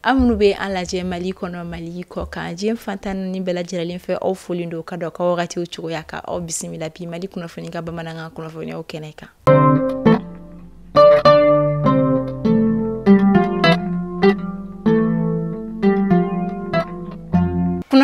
aw minnu bɛ an lajɛ mali kɔnɔ mali kɔkan diɲɛ fan tan ni naani bɛɛ lajɛlen fɛ aw folen don ka da aw ka wagatiw cogoya kan aw bisimila bi mali kunnafoni ka bamanankan kunnafoniyaw kɛnɛ kan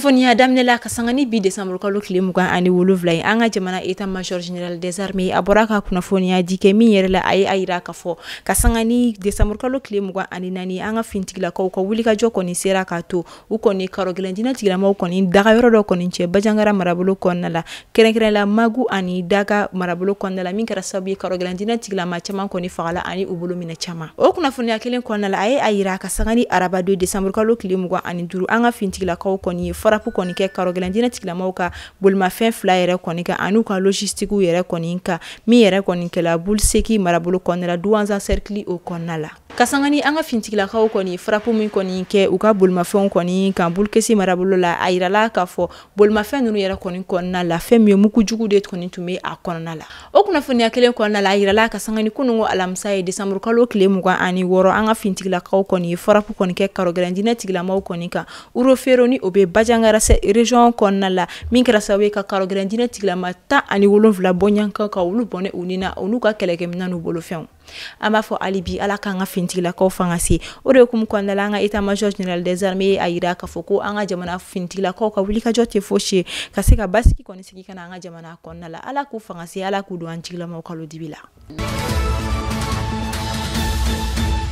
kunnafoniya daminɛ la ka sanga ni bi desanburukalo tile mugan ani wolonwula ye an ka jamana état major général des armées a bɔra ka kunnafoniya di kɛ min yɛrɛ la a ye a yira k'a fɔ ka sanga ni desanburukalo tile mugan ani naani an ka fintigilakaw ka wulikajɔ kɔni sera k'a to u kɔni karogɛlɛn diinɛ tigilamaw kɔni dagayɔrɔ dɔ kɔni tiɲɛ bajangara marabolo kɔnɔna la kɛrɛnkɛrɛnla magu ani daga marabolo kɔnɔna la min kɛra sababu ye karogɛlɛn diinɛ tigilama caman kɔni fagala ani u bolominɛn caman o kunnafoniya kelen kɔnɔna la a ye a yira ka sanga ni araba don desanburukalo tile mugan ani duuru an ka fintigilakaw kɔni ye farapu kɔni kɛ karogɛlɛn diinɛ tigilamaw ka bolimafɛn fila yɛrɛ kɔni kan an'u ka logistique yɛrɛ kɔni kan min yɛrɛ kɔni kɛla buliseki marabolo kɔnɔna la duwanza sɛrikili o kɔnɔna la ka sanga ni an ka fintigilakaw kɔni farapu min kɔni kɛ u ka bolimafɛnw kɔni kan bulukesi marabolo la a yirala k'a fɔ bolimafɛn ninnu yɛrɛ kɔni kɔnɔna la fɛn min ye mugu jugu de kɔni tun bɛ a kɔnɔna la o kunnafoniya kelen kɔnɔna la a yirala ka sanga ni kunungo alamisa ye desanburu kalo kile mugan ani wɔɔrɔ an ka fintigilakaw kɔni ye farapu kɔni kɛ karogɛlɛn diinɛ tigilamaw kɔni kan urofero ni o bɛ bajangara sɛ région kɔnɔna la min kɛra sababu ye ka karogɛlɛn diinɛ tigilama tan ani wolonfila bɔɲɔgɔnko ka olu bɔnɛ u ni na u n'u ka kɛlɛkɛminɛn n'u bolofɛnw an b'a fɔ hali bi ala k'an ka finitigilakaw fanga se o de hukumu kɔnɔna la an ka état major général des armées ye a yira k'a fɔ ko an ka jamana finitigilakaw ka wulikajɔ tɛ fosi ye ka se ka basigi kɔni sigi ka na an ka jamana kɔnɔna la ala k'u fanga se ala k'u don an jigilamaw kalo dibi la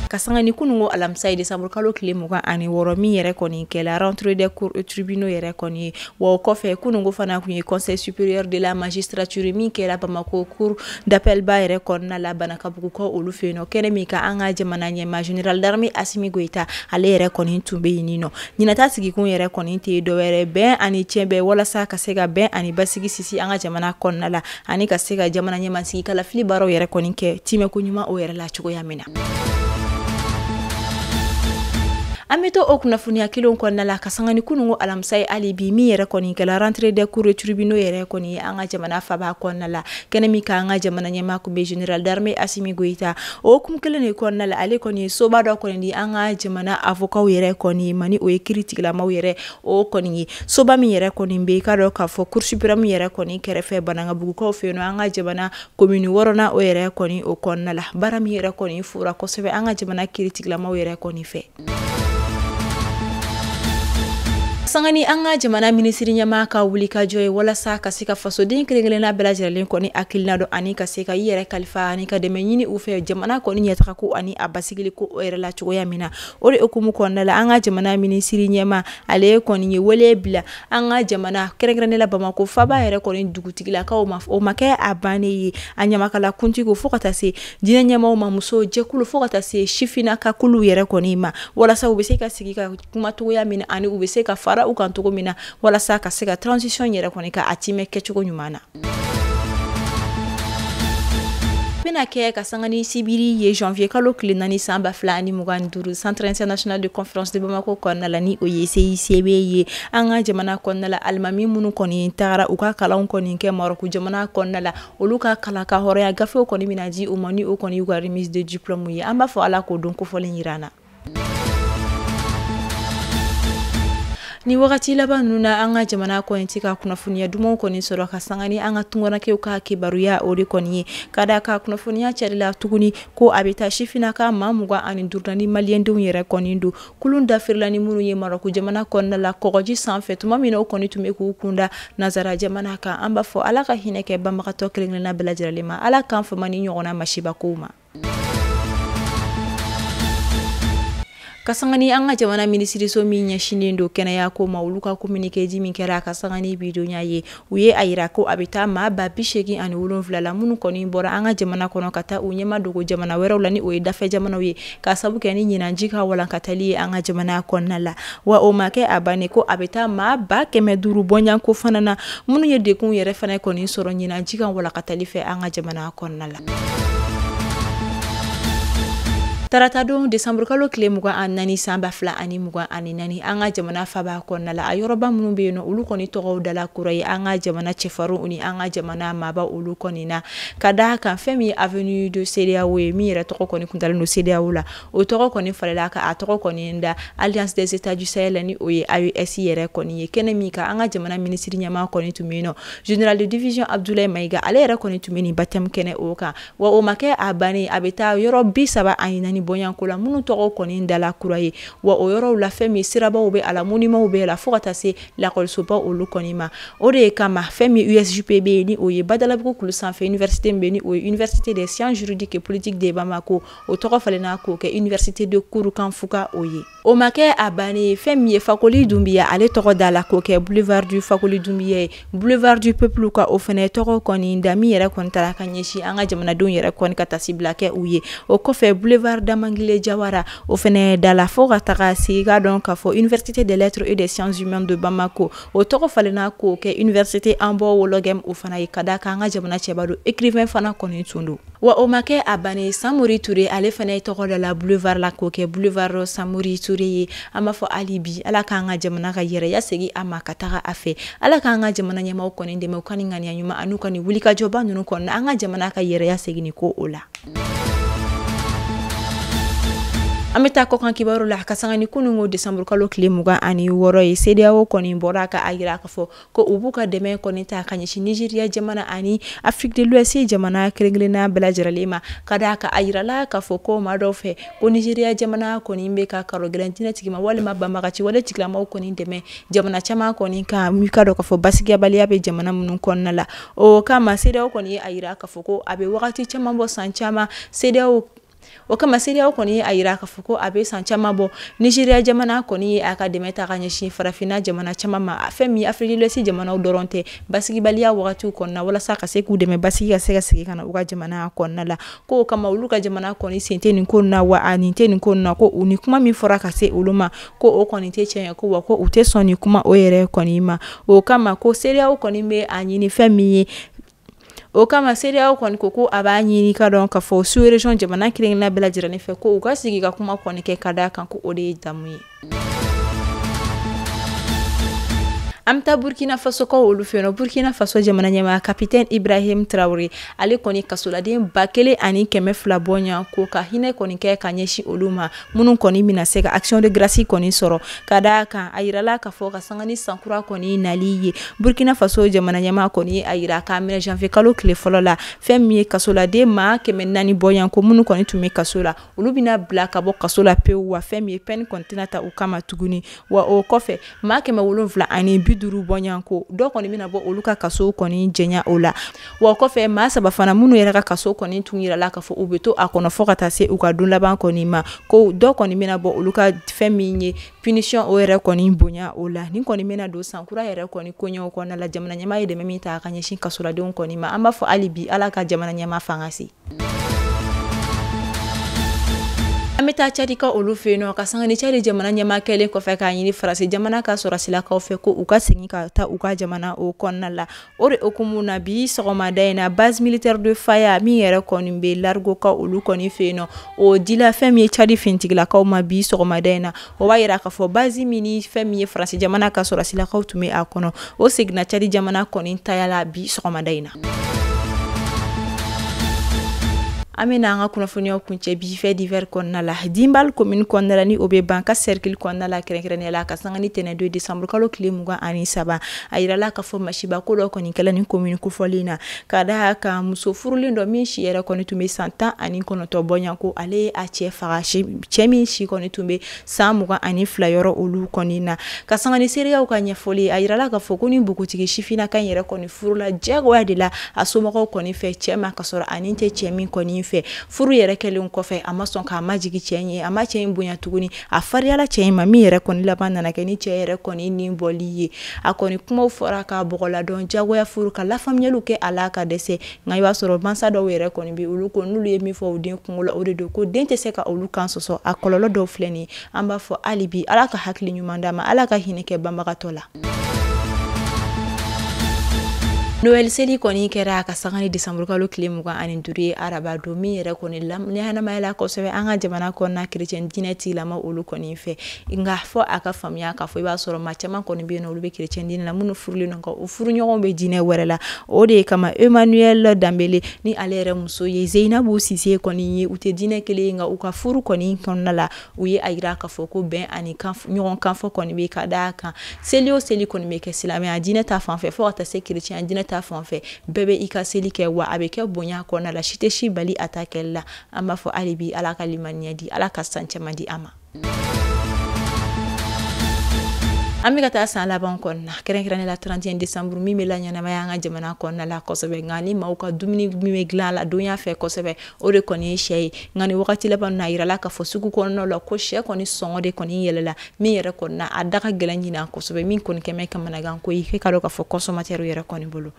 ka sanga ni kunun ko alamisa ye desanburu kalo tile mugan ani wɔɔrɔ min yɛrɛ kɔni kɛla rentrée des cours et tribunaux yɛrɛ kɔni ye wa o kɔfɛ kunun ko fana kun ye conseil supérieur de la magistrature min kɛla bamako cour d'appel ba yɛrɛ kɔnɔna la banankabugukaw olu fɛ yen kɛnɛ min kan an ka jamana ɲɛmaa général d'armée asimi goyita ale yɛrɛ kɔni tun bɛ yen nɔ ɲinan ta sigikun yɛrɛ kɔni tɛ dɔwɛrɛ bɛn ani cɛ bɛɛ walasa ka se ka bɛn ani basigi sinsin an ka jamana kɔnɔna la ani ka se ka jamana ɲɛmaasigi kalafili baaraw yɛrɛ kɔni kɛ tiimɛ ko ɲuman o yɛrɛ la cogoya min na an bɛ to o kunnafoniya kelen kɔnɔna la ka sanga ni kunungo alamisa ye hali bi min yɛrɛ kɔni kɛla rentrée des cours et tribunaux yɛrɛ kɔni an ka jamana faba kɔnɔna la kɛnɛ min kan an ka jamana ɲɛmaa kun bɛ général d'armée Asimi Goyita o hukumu kelen de kɔnɔna la ale kɔni ye soba dɔ kɔni di an ka jamana avokaw yɛrɛ kɔni ma ni o ye kiiritigilamaw yɛrɛ o kɔni ye soba min yɛrɛ kɔni bɛ i k'a dɔn k'a fɔ cour suprême yɛrɛ kɔni kɛrɛfɛ banankabugukaw fɛ yen nɔ an ka jamana komini wɔɔrɔnan o yɛrɛ kɔni o kɔnɔna la baara min yɛrɛ kɔni fora kosɛbɛ an ka jamana kiiritigilamaw yɛrɛ kɔni fɛ sanga ni an ka jamana minisiri ɲɛmaa ka wulikajɔ ye walasa ka se ka fasoden kelenkelenna bɛɛ lajɛlen kɔni hakilina dɔn ani ka se ka i yɛrɛ kalifa ani ka dɛmɛ ɲini u fɛ jamana kɔni ɲɛtaga ko ani a basigili ko o yɛrɛ la cogoya min na o de hukumu kɔnɔna la an ka jamana minisiri ɲɛmaa ale kɔni ye wele bila an ka jamana kɛrɛnkɛrɛnnen la bamako faba yɛrɛ kɔni dugutigilakaw ma o ma kɛ a bannen ye a ɲamakala kuntigi fo ka taa se diinɛ ɲɛmaaw ma muso jɛkulu fo ka taa se sifina ka kulu yɛrɛ kɔni ma walasa u bɛ se ka sigi ka kuma cogoya min na ani u bɛ se ka fara u kan cogo min na walasa ka se ka transition yɛrɛ kɔni ka a timɛ kɛcogo ɲuman na bɛna kɛ ka sanga ni sibiri ye janvier kalo tile naani san ba fila ani mugan ni duuru centre international de conférence de bamako kɔnɔna la ni o ye CICB ye an ka jamana kɔnɔna la alimami minnu kɔni tagara u ka kalanw kɔni kɛ marɔku jamana kɔnɔna la olu ka kalan ka hɔrɔnya gafew kɔni bɛna di u ma ni o kɔni y'u ka remise de diplôme ye an b'a fɔ ala k'o don kofɔlen yira an na ni wagati laban ninnu na an ka jamana kɔni tɛ ka kunnafoniya dumanw kɔni sɔrɔ ka sanga ni an ka tunganakɛw ka kibaruya o de kɔni ye ka da a kan kunnafoniya carila tuguni ko a bɛ taa sifinaka maa mugan ani duuru la ni maliyɛndenw yɛrɛ kɔni don Kulun dafirila ni minnu ye Maroc jamana kɔnɔna la kɔgɔji sanfɛ tuma min na u kɔni tun bɛ k'u kunda nazara jamana kan an b'a fɔ Ala ka hinɛ kɛ banbagatɔ kelen-kelenna bɛɛ lajɛlen ma Ala k'an fama nin ɲɔgɔnna masibakow ma ka sanga ni an ka jamana minisiriso min ɲɛsinnen don kɛnɛya ko ma olu ka communiqué di min kɛra ka sanga ni bi donya ye u ye a yira ko a bɛ taa maa ba bi seegin ani wolonfila la minnu kɔni bɔra an ka jamana kɔnɔ ka taa u ɲɛmadogo jamana wɛrɛw la ni o ye dafɛ jamanaw ye ka sabu kɛ ni ɲinanji ka walankatali ye an ka jamana kɔnɔna la wa o ma kɛ a bannen ko a bɛ taa maa ba kɛmɛ duuru bɔɲanko fana na minnu ye degun yɛrɛ fana kɔni sɔrɔ ɲinanji ka walankatali fɛ an ka jamana kɔnɔna la taratadon décembre kalo kile mugan ani naani san ba fila ani mugan ani naani an ka jamana faba kɔnɔna la a yɔrɔba minnu bɛ yen nɔ olu kɔni tɔgɔw dala kura ye an ka jamana cɛfarinw ni an ka jamana maaba olu kɔni na ka da a kan fɛn min ye avenue de cedeao ye min yɛrɛ tɔgɔ kɔni tun dalen don cedeao la o tɔgɔ kɔni falela ka a tɔgɔ kɔni da alliance des états du sahel ni o ye AES yɛrɛ kɔni ye kɛnɛ min kan an ka jamana minisiri ɲɛmaa kɔni tun bɛ yen nɔ général de division Abdoulaye Mayiga ale yɛrɛ kɔni tun bɛ nin baptême kɛnɛ o kan wa o ma kɛ a bannen a bɛ taa yɔrɔ bi saba ani naani bɔɲanko la minnu tɔgɔ kɔni dala kura ye wa o yɔrɔw la fɛn min sirabaw bɛ a la monuments bɛ a la fo ka taa se lakɔlisoba olu kɔni ma o de kama fɛn min USJP bɛ yen ni o ye Badalabugu kulu sanfɛ université min bɛ yen ni o ye université des sciences juridiques et politiques de Bamako o tɔgɔ falenna k'o kɛ université de kurukan fuga o ye o ma kɛ a bannen fɛn min ye fakoli dunbiya ale tɔgɔ dala k'o kɛ boulevard du fakoli dunbiya ye boulevard du peuple ka o fana tɔgɔ kɔni da min yɛrɛ kɔni tara ka ɲɛsin an ka jamanadenw yɛrɛ kɔni ka taasibila kɛ u ye o kɔfɛ boulevard damangile jawara o fana dala fɔ ka taga se ka dɔn k'a fɔ université des lettres et des sciences humaines de bamakɔ o tɔgɔ falenna k'o kɛ université yambo ouologuem o fana ye ka d'a kan an ka jamana cɛba don écrivain fana kɔni tun don wa o ma kɛ a bannen samori ture ale fana ye tɔgɔ dala boulevard la k'o kɛ boulevard samori ture ye an b'a fɔ hali bi ala k'an ka jamana ka yɛrɛya segin a ma ka taga a fɛ ala k'an ka jamana ɲɛmaaw kɔni dɛmɛ u ka nin ŋaniya ɲuman an'u ka nin wulikajɔba ninnu kɔnɔna an ka jamana ka yɛrɛya segin ko o la an bɛ taa kɔkan kibaru la ka sanga ni kunun ko décembre kalo tile mugan ani wɔɔrɔ ye sedeyawo kɔni bɔra ka a yira k'a fɔ ko u b'u ka dɛmɛ kɔni ta ka ɲɛsin nizeriya jamana ani afrique de l'ouest jamana kelenkelenna bɛɛ lajɛrɛlen ma ka d'a kan a yirala k'a fɔ ko maa dɔw fɛ ko nizeriya jamana kɔni bɛ ka karo gɛlɛn diinɛ tigi ma walima banbagaci wale tigilamaw kɔni dɛmɛ jamana caman kɔni kama i k'a dɔn k'a fɔ basigiyabaliya bɛ jamana minnu kɔnɔna la o kama sedeyawo kɔni ye a yira k'a fɔ ko a bɛ wagati caman bɔ san caman sedeyawo o kama sedeyawo kɔni ye a yira k'a fɔ ko a bɛ san caman bɔ nizeriya jamana kɔni ye a ka dɛmɛ ta ka ɲɛsin farafinna jamana caman ma fɛn min afrique de l'ouest jamanaw dɔrɔn tɛ basigibaliya wagatiw kɔnɔna walasa ka se k'u dɛmɛ basigi ka se ka segin ka na u ka jamana kɔnɔna la ko o kama olu ka jamana kɔni sen tɛ nin ko na wa a nin tɛ nin ko na ko u ni kuma min fɔra ka se olu ma ko o kɔni tɛ tiɲɛ ye ko wa ko u tɛ sɔn nin kuma o yɛrɛ kɔni ma o kama ko sedeyawo kɔni bɛ a ɲini fɛn min ye o kama sedeyawo kɔni ko ko a b'a ɲini ka dɔn k'a fɔ sous-région jamana kelenkelenna bɛɛ lajɛlen fɛ ko u ka sigi ka kuma kɔni kɛ ka d'a kan ko o de ye damu ye an bɛ taa burukina fasokaw olu fɛ yen nɔ burukina faso jamana ɲɛmaa capitaine ibrahim traoré ale kɔni kasoladen ba kelen ani kɛmɛ fila bɔɲɔgɔn ko ka hinɛ kɔni kɛ ka ɲɛsin olu ma minnu kɔni bɛna se ka action de grâce kɔni sɔrɔ ka d'a kan a yirala k'a fɔ ka sanga ni san kura kɔni nali ye burkina faso jamana ɲɛmaa kɔni ye a yira k'a minɛ janvier kalo tile fɔlɔ la fɛn min ye kasoladen maa kɛmɛ naani bɔɲanko minnu kɔni tun bɛ kaso la olu bɛna bila ka bɔ kaso la pewu wa fɛn min ye peine kɔni tɛna ta u kama tuguni wa o kɔfɛ maa kɛmɛ wolonwula ani bi duuru bɔɲɔgɔn ko dɔ kɔni bɛna bɔ olu ka kaso kɔni janya o la wa o kɔfɛ maa saba fana minnu yɛrɛ ka kaso kɔni tun yirala k'a fɔ u bɛ to a kɔnɔ fɔ ka taa se u ka don laban kɔni ma ko dɔ kɔni bɛna bɔ olu ka fɛn min ye punition o yɛrɛ kɔni bonya o la ni kɔni bɛna don sankura yɛrɛ kɔni koɲɛw kɔnɔna la jamana ɲɛmaa ye dɛmɛ min ta ka ɲɛsin kasoladenw kɔni ma an b'a fɔ hali bi ala ka jamana ɲɛmaa fangasi an bɛ taa cadi ka olu fɛ yen nɔ ka sanga ni cadi jamana ɲɛmaa kɛlen kɔfɛ k'a ɲini faransi jamana ka sɔrɔsilakaw fɛ ko u ka segin ka taa u ka jamana o kɔnɔna la o de hukumu na bi sɔgɔmada in na base militaire de faya min yɛrɛ kɔni bɛ largeau ka olu kɔni fɛ yen nɔ o dila fɛn min ye cadi fintigilakaw ma bi sɔgɔmada in na o b'a yira k'a fɔ bazi min ni fɛn min ye faransi jamana ka sɔrɔsilakaw tun bɛ a kɔnɔ o seginna cadi jamana kɔni taya la bi sɔgɔmada in na an bɛ n'an ka kunnafoniyaw kuncɛ bi faits divers kɔnɔna la dinbal komini kɔnɔna la ni o bɛ bankasi sɛrikili kɔnɔna la kɛrɛnkɛrɛnnenya la ka sanga ni tɛnɛndon desanburukalo tile mugan ani saba a yirala k'a fɔ masiba ko dɔ kɔni kɛla ni komini kofɔlen na ka da kan muso furulen dɔ min si yɛrɛ kɔni tun bɛ san tan ani kɔnɔntɔn bɔɲa ko ale ye a cɛ faga cɛ min si kɔni tun bɛ san mugan ani fila yɔrɔ olu kɔni na ka sanga ni seereyaw ka ɲɛfɔli a yirala k'a fɔ ko ni npogotigi sifinnaka yɛrɛ kɔni furula diyagoya de la a somɔgɔw kɔni fɛ cɛ ma ka sɔrɔ a ni tɛ cɛ min kɔni fɛ furu yɛrɛ kɛlen kɔfɛ a ma sɔn k'a majigin cɛ ye a ma cɛ in bonya tuguni a fariyala cɛ in ma min yɛrɛ kɔni laban nana kɛ ni cɛ yɛrɛ kɔni ni bɔli ye a kɔni kumaw fɔra ka bɔgɔladɔn jagoya furu ka lafaamuyaliw kɛ a la ka dɛsɛ nka i b'a sɔrɔ mansa dɔw yɛrɛ kɔni bɛ olu ko n'olu ye min fɔ u den kunko la o de don ko den tɛ se ka olu kan sɔsɔ a kɔlɔlɔ dɔw filɛ nin an b'a fɔ hali bi ala ka hakili ɲuman d'an ma ala ka hinɛ kɛ banbagatɔ la Noël seli kɔni kɛra a ka sanga ni décembre kalo tile mugan ani duuru ye araba don min yɛrɛ kɔni ɲɛnamayala kosɛbɛ an ka jamana kɔnɔna chrétien diinɛ tigilama olu kɔni fɛ nka fɔ a ka faamuya k'a fɔ i b'a sɔrɔ maa caman kɔni bɛ yen nɔ olu bɛ chrétien diinɛ la minnu furulen don nka u furuɲɔgɔnw bɛ diinɛ wɛrɛ la o de kama Emmanuel Dembele ni ale yɛrɛ muso ye Zeyinabu Sise kɔni ye u tɛ diinɛ kelen ye nka u ka furu kɔni kɔnɔna la u ye a yira k'a fɔ ko bɛn ani ɲɔgɔn kanfɔ kɔni bɛ ka da kan seli o seli kɔni bɛ kɛ silamɛya diinɛ ta fanfɛ fo ka taa se kerecɛnya diinɛ ta fanfɛ bɛɛ bɛ i ka seli kɛ wa a bɛ kɛ bonya kɔnɔna la si tɛ si bali a ta kɛli la an b'a fɔ hali bi ala ka limaniya di ala ka san caman di an ma an bɛ ka taa san laban kɔnɔna kɛrɛnkɛrɛnnenya la 31 décembre min bɛ laɲɛnamaya an ka jamana kɔnɔna la kosɛbɛ nka ni maaw ka dumuni min bɛ dilan la donya fɛ kosɛbɛ o de kɔni ye sɛ ye nka ni wagati laban na a yirala k'a fɔ sugu kɔnɔna la ko sɛ kɔni sɔngɔ de kɔni yɛlɛla min yɛrɛ kɔni na a da ka gɛlɛn ɲinan kosɛbɛ min kɔni kɛlen bɛ kamanagan ko ye k'e k'a dɔn k'a fɔ kɔnsɔmatɛriw yɛrɛ kɔni bolo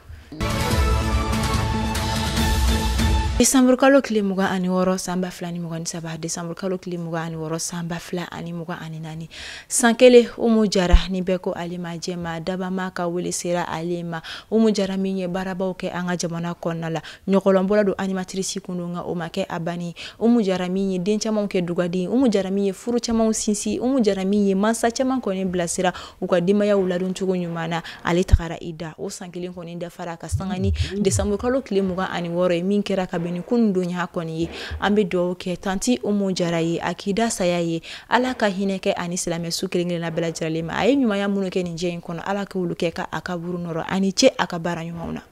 desanburukalo tile mugan ani wɔɔrɔ san ba fila ni mugan ni saba desanburukalo tile mugan ani wɔɔrɔ san ba fila ani mugan ani naani san kelen umu jara ni bɛɛ ko ale ma jɛma dabama ka wele sera ale ma umu jara min ye baarabaw kɛ an ka jamana kɔnɔna la ɲɔgɔlɔnbɔla don animatirisi kun don nka o ma kɛ a banni umu jara min ye den camanw kɛ dugaden umu jara min ye furu camanw sinsin umu jara min ye muso caman kɔni bilasira u ka denbayaw ladon cogo ɲuman na ale tagara i da o san kelen kɔni dafara ka sanga ni desanburu kalo tile mugan ani wɔɔrɔ ye min kɛra ka bɛn ni kunun donya kɔni ye an bɛ dugawu kɛ tanti umu jara ye a k'i da saya ye ala ka hinɛ kɛ ani silamɛ su kelen kelenna bɛɛ lajɛlen ma a ye ɲumanya minnu kɛ nin diɲɛ in kɔnɔ ala k'olu kɛ ka a kaburu nɔɔrɔ aw ni ce a ka baara ɲumanw na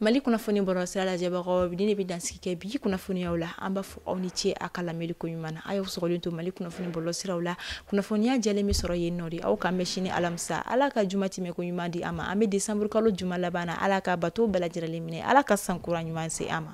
mali kunnafoni bɔlɔlɔsira lajɛbagaw ni ne bɛ dansigi kɛ bi kunnafoniyaw la an b'a fɔ aw ni ce a ka lamɛnli ko ɲuman na a y'aw sɔgɔlen to mali kunnafoni bɔlɔlɔsiraw la kunnafoniya jɛlen bɛ sɔrɔ yen nɔ de aw k'an bɛn sini alamisa ala ka juma tɛmɛ ko ɲuman di an ma an bɛ desanburu kalo juma laban na ala ka bato bɛɛ lajɛlen minɛ ala ka san kura ɲuman se an ma